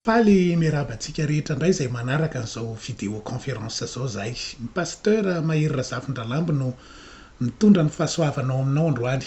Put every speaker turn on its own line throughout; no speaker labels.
Faly miarahaba antsika rehetra indray izay manaraka an'izao vidéo conférence izao izahay. Ny Pasteur Mahery Razafindralambo no mitondra ny fahasoavana ao aminao androany.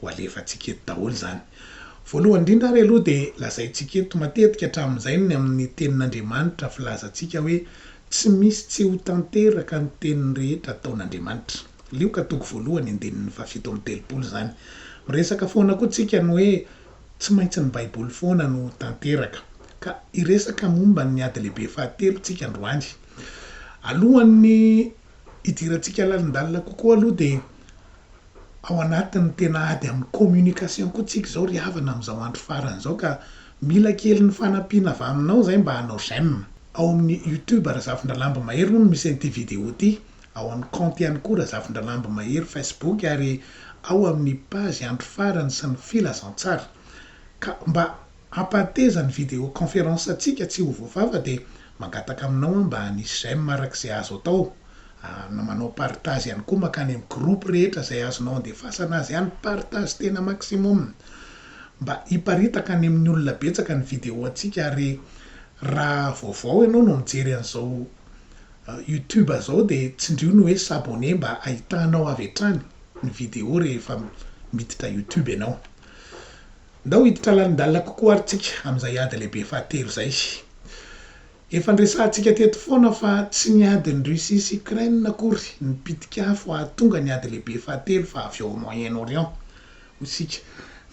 Ho alefantsika eto daholo izany. Voalohany indrindra ary aloha dia lazaintsika eto matetika hatramin'izay ny amin'ny Tenin'Andriamanitra filazantsika hoe tsy misy tsy ho tanteraka ny teniny rehetra ataon'Andriamanitra. Lioka toko voalohany andininy fahafito amby telopolo izany. Miresaka foana koa tsika ny hoe tsy maintsy ny Baiboly foana no tanteraka. Ka hiresaka momba ny ady lehibe fahatelo tsika androany. Alohan'ny hidirantsika lalindalina kokoa aloha dia. ao anatin'ny tena ady amin'ny communication koa tsika izao ry havana amin'izao andro farany izao ka mila kely ny fanampiana avy aminao izay mba hanao j'aime ao amin'ny youtube Razafindralambo Mahery hono misy an'ity vidéo ity ao amin'ny compte ihany koa Razafindralambo Mahery facebook ary ao amin'ny page andro farany sy ny filazantsara ka mba Hampateza ny video conference antsika tsy ho voavafa dia mangataka aminao aho mba hanisy j'aime araka izay azo atao ary manao partage ihany koa mankany amin'ny groupe rehetra izay azonao andefasana azy any partage tena maximum mba hiparitaka any amin'ny olona betsaka ny video antsika ary raha vaovao ianao no mijery an'izao youtube izao dia tsindrio ny hoe s'abonner mba hahitanao avy hatrany ny video rehefa miditra youtube ianao. Ndao hiditra lalindalina kokoa ary tsika amin'izay ady lehibe fahatelo izay. Efa niresahantsika teto foana fa tsy ny adin'i Russie sy Ukraine akory no mpitika afo hahatonga ny ady lehibe fahatelo fa avy ao Moyen Orient, hoy isika,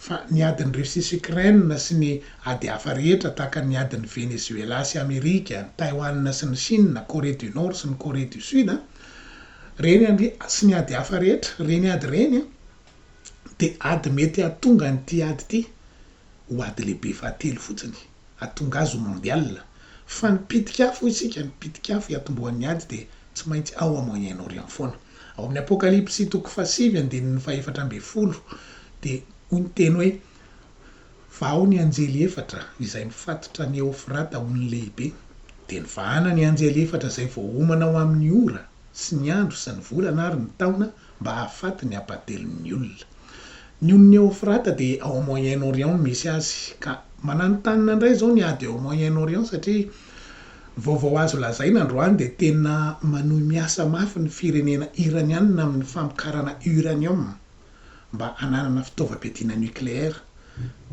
fa ny adin'i Russie sy Ukraine sy ny ady hafa rehetra tahaka ny adin'i Venezuela sy Amerika, Taiwan sy ny Chine, Corée du Nord sy ny Corée du Sud, reny sy ny ady hafa rehetra, reny ady reny. Dia ady mety hahatonga an'ity ady ity ho ady lehibe fahatelo fotsiny, hahatonga azy ho mondial. Fa ny pitik'afo hoy isika, ny pitik'afo hiatombohan'ny ady dia tsy maintsy ao à Moyen Orient foana. Ao amin'ny Apokalypsy toko fahasivy andininy fahefatra ambin'ny folo dia hoy ny teny hoe, Fa ao ny anjely efatra izay mifatotra an'i Eofrata ho ny lehibe, dia nivahana ny anjely efatra izay voaomana ho amin'ny ora sy ny andro sy ny volana ary ny taona, mba hahafaty ny hampatelin'ny olona. Ny ony Neofrata dia ao Moyen-Orient no misy azy, ka mananontanona indray izao ny ady ao Moyen-Orient satria ny vaovao azo lazaina androany dia tena manohy miasa mafy ny firenena Iraniana amin'ny famokarana uranium mba hananana fitaovam-piadiana nucléaire,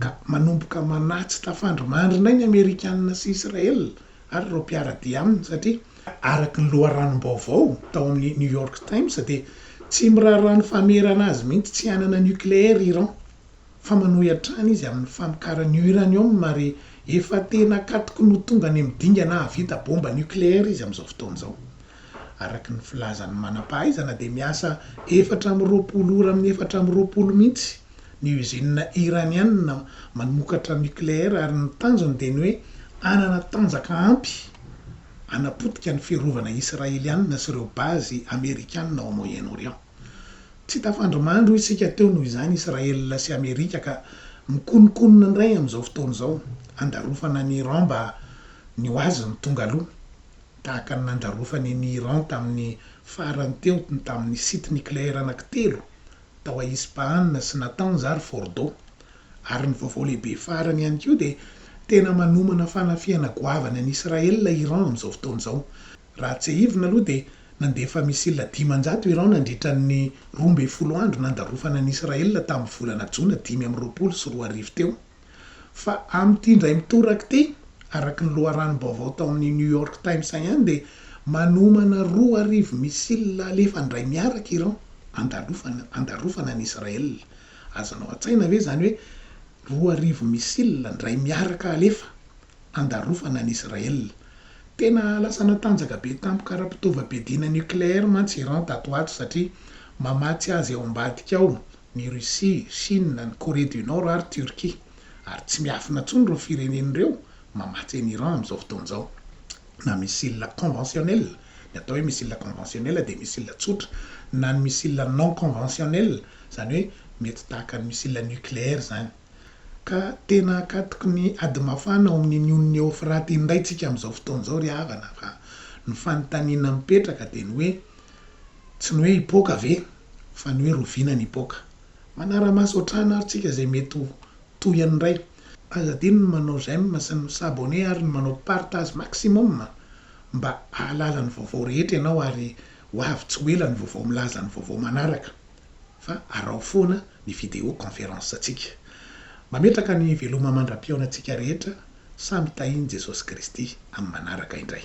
ka manomboka manatsy tafandry mandry indray ny Amerikana sy Israel ary ireo mpiara-dia aminy satria araka ny loharanom-baovao tao amin'ny New York Times dia tsy miraharaha ny famerana azy mihitsy tsy hanana nucléaire Iran fa manohy hatrany izy amin'ny famokarany uranium ary efa tena katoky ny ho tonga any amin'ny dingana hahavita bomba nucléaire izy amin'izao fotoana izao araka ny filazan'ny manam-pahaizana dia miasa efatra amby roapolo ora amin'ny efatra amby roapolo mihitsy ny usinina Iraniana manokatra nucléaire ary ny tanjony dia ny hoe hanana tanjaka ampy hanapotika ny fiarovana Israeliana sy ireo base Amerikana ao Moyen-Orient. Tsy tafandrimandry isika teo noho izany Israel sy Amerika ka mikononkonona indray amin'izao fotoana izao handarofana an'i Iran mba ny ho azy no tonga aloha tahaka ny nandarofany an'i Iran tamin'ny farany teo tamin'ny site nucléaire anankitelo tao a Ispaana sy Natanz ary Fordo. Ary ny vaovao lehibe farany ihany koa dia tena manomana fanafihana goavana an'i Israel i Iran amin'izao fotoana izao. Raha tsiahivina aloha dia nandefa missile dimanjato Iran nandritra ny roa ambin'ny folo andro nandarofana an'i Israel tamin'ny volana jona dimy amby roapolo sy roa arivo teo. Fa amin'ity indray mitoraka ity, araka ny loharanom-baovao tao amin'ny New York Times ihany dia manomana roa arivo missiles alefa indray miaraka Iran handalofana handalofana an'i Israël. Azonao an-tsaina ve izany hoe roa arivo missiles indray miaraka alefa handalofana an'i Israël? Tena lasa natanjaka be tampoka ara-pitaovam-piadiana nucléaire mantsy Iran tato ho ato satria mamatsy azy ao ambadika ao ny Russie, Chine, ny Corée du Nord ary Turquie. Ary tsy miafina intsony ireo firenena ireo mamatsy an'i Iran amin'izao fotoana izao na missile conventionnel, ny atao hoe missile conventionnel dia missile tsotra, na ny missile non conventionnel, izany hoe mety tahaka ny missile nucléaire izany. Ka tena akatoky ny ady mafana ao amin'ny Union Eofrate indray isika amin'izao fotoana izao ry havana fa ny fanontaniana mipetraka dia ny hoe tsy ny hoe hipoaka ve? fa ny hoe roviana ny hipoaka. Manara-maso hatrany ary tsika izay mety ho tohiny indray. Aza adino ny manao j'aime sy ny s'abonner ary ny manao partage maximum mba hahalala ny vaovao rehetra ianao ary ho avy tsy ho ela ny vaovao milaza ny vaovao manaraka fa araho foana ny vidéo conférence ntsika. Mametraka ny veloma mandra-pihaonantsika rehetra samy tahin'i Jesosy Kristy amin'ny manaraka indray.